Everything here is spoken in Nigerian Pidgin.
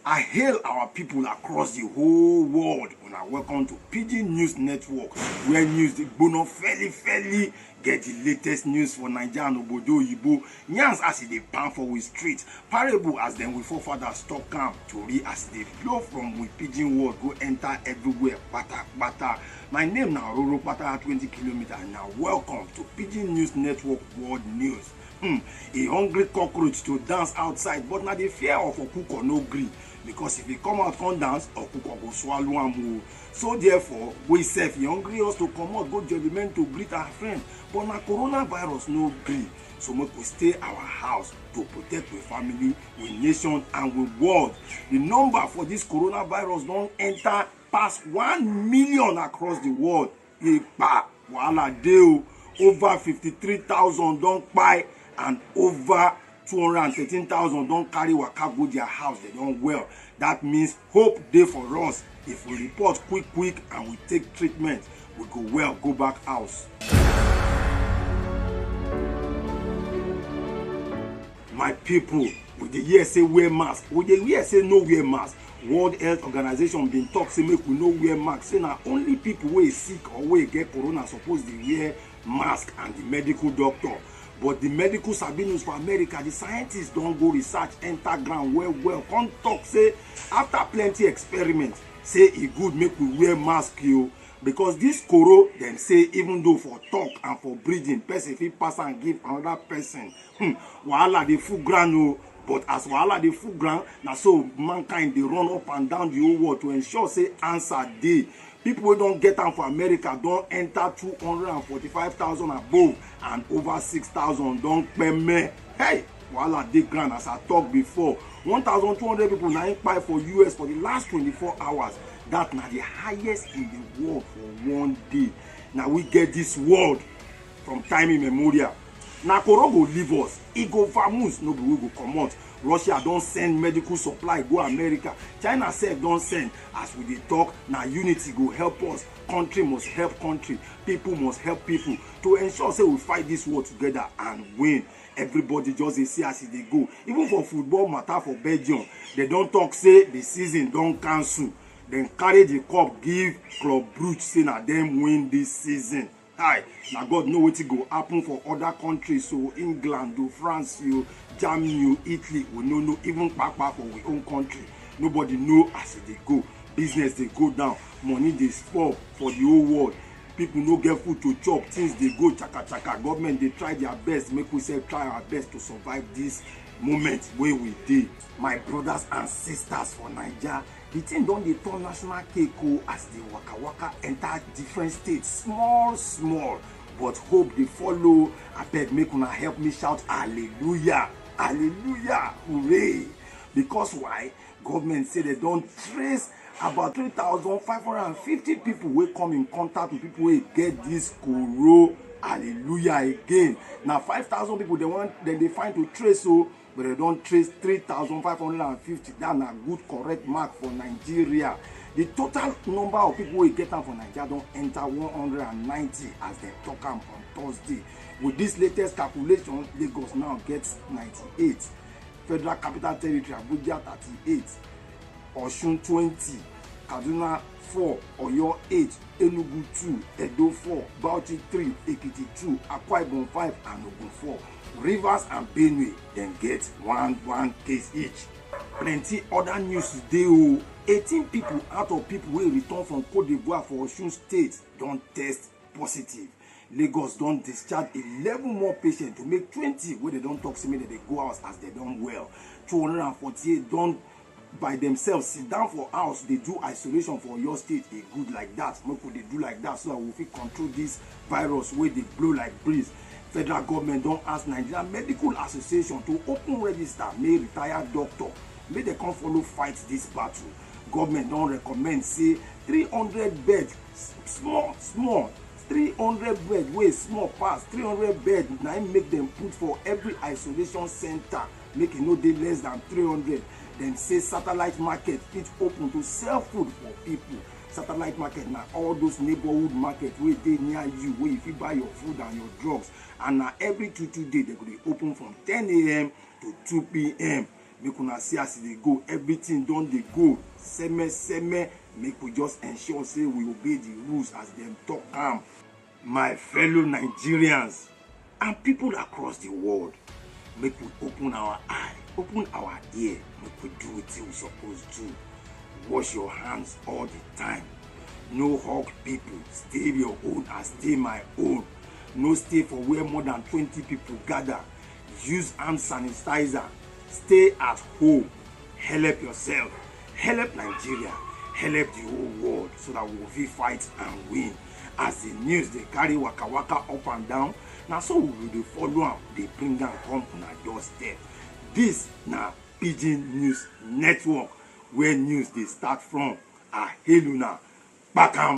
I hail our people across the whole world. Una welcome to Pidgin News Network, where news dey gbona fairly fairly Get the latest news for Naija and Obodo Oyibo, yarns as e dey pound for we street, parable as dem we forefathers talk am, tori as e dey flow from we pidgin world go enter everywhere patapata. My name na Ororopata twenty kilometer and na welcome to Pidgin News Network World News. Hmm, a hungry cockroach to dance outside but na the fear of okuko no gree because if e come out come dance, okuko go swallow am o. so therefore we sef e hungry us to comot go judgement to greet our friend but na coronavirus no gree so make we stay our house to protect we family we nation and we world the number for this coronavirus don enter pass one million across the world ìpà wàhálà dé o over fifty three thousand don kpai and over two hundred and thirteen thousand don carry waka go their house they don well that means hope dey for us if we report quick quick and we take treatment we go well go back house. my people we dey hear say wear mask we dey hear say no wear mask world health organization bin talk say make we no wear mask say na only people wey sick or wey get corona suppose dey wear mask and the medical doctor but the medical sabi news for america the scientists don go research enter ground well well come talk say after plenty experiment say e good make we wear mask o because this koro dem say even though for talk and for breathing person fit pass am give another person Hmm, wahala dey full ground o. But as wahala dey full ground, na so mankind dey run up and down the whole world to ensure say answer dey. People wey don get am for America don enter two hundred and forty-five thousand above and over six thousand don kpeme. Hey! Wahala dey ground as I talk before. One thousand two hundred people na im kpai for US for the last twenty-four hours. That na the highest in the world for one day. Na we get this world from time immemorial. Na koro go leave us, e go vamoose, no be we go comot. Russia don send medical supply go America, China sef don send. As we dey talk, na unity go help us. Country must help country, people must help people to ensure say we fight this war together and win. Everybody just dey see as e dey go. Even for football matter for Belgium, dem don talk say the season don cancel. Dem carry the cup give Club Brugge say na dem win this season. Hi, na God know wetin go happen for other countries o, England o, France o, Germany o, Italy, we no know, even kpakpa for we own country, nobody know as e dey go, business dey go down, money dey spoil for the whole world, people no get food to chop, things dey go chaka chaka, government dey try their best, make we sef try our best to survive this moment wey we dey. My brothers and sisters for Naija, The thing don dey turn national cake o as the waka waka enter different states small small but hope dey follow abeg make una help me shout hallelujah hallelujah hooray because why government say they don trace about 3,550 people wey come in contact with people wey get this koro hallelujah again na 5,000 people dem wan dem dey find to trace o but they don trace three thousand five hundred and fifty that na good correct mark for nigeria the total number of people wey get am for naija don enter one hundred and ninety as dem talk am on thursday with this latest calculation lagos now get ninety-eight federal capital territory abuja thirty-eight osun twenty kaduna four oyo eight enugu two edo four bauchi three ekiti two akwa ibom five and ogun four Rivers and Benue dem get one one case each. Plenty other news dey o. 18 people out of people wey return from Cote d'Ivoire for Osun State don test positive. Lagos don discharge 11 more patients to make 20 wey dem don talk say make dem dey go house as dem don well. 248 don by themselves sit down for house dey do isolation for oyo state e good like that make we dey do like that so that we fit control this virus wey dey blow like breeze federal government don ask nigeria medical association to open register make retired doctor make dem come follow fight this battle government don recommend say 300 bed small small 300 bed wey small pass 300 bed na im make dem put for every isolation center make e no dey less than 300 dem say satellite market fit open to sell food for people satellite market na all those neighborhood market wey dey near you wey you fit buy your food and your drugs and na every two two day dem go dey open from 10am to 2pm make una see as e dey go everything don dey go seme seme make we just ensure say we obey the rules as dem talk am My fellow Nigerians and people across the world, make we open our eye, open our ear, make we do wetin we suppose do. Wash your hands all the time. No hug people, stay your own and stay my own. No stay for where more than 20 people gather. Use hand sanitizer. Stay at home. Help yourself. Help Nigeria. Help the whole world so that we will fit fight and win. as the news dey carry waka waka up and down na so we go dey follow am dey bring am come una doorstep this na pidgin news network where news dey start from i hail una kpakam.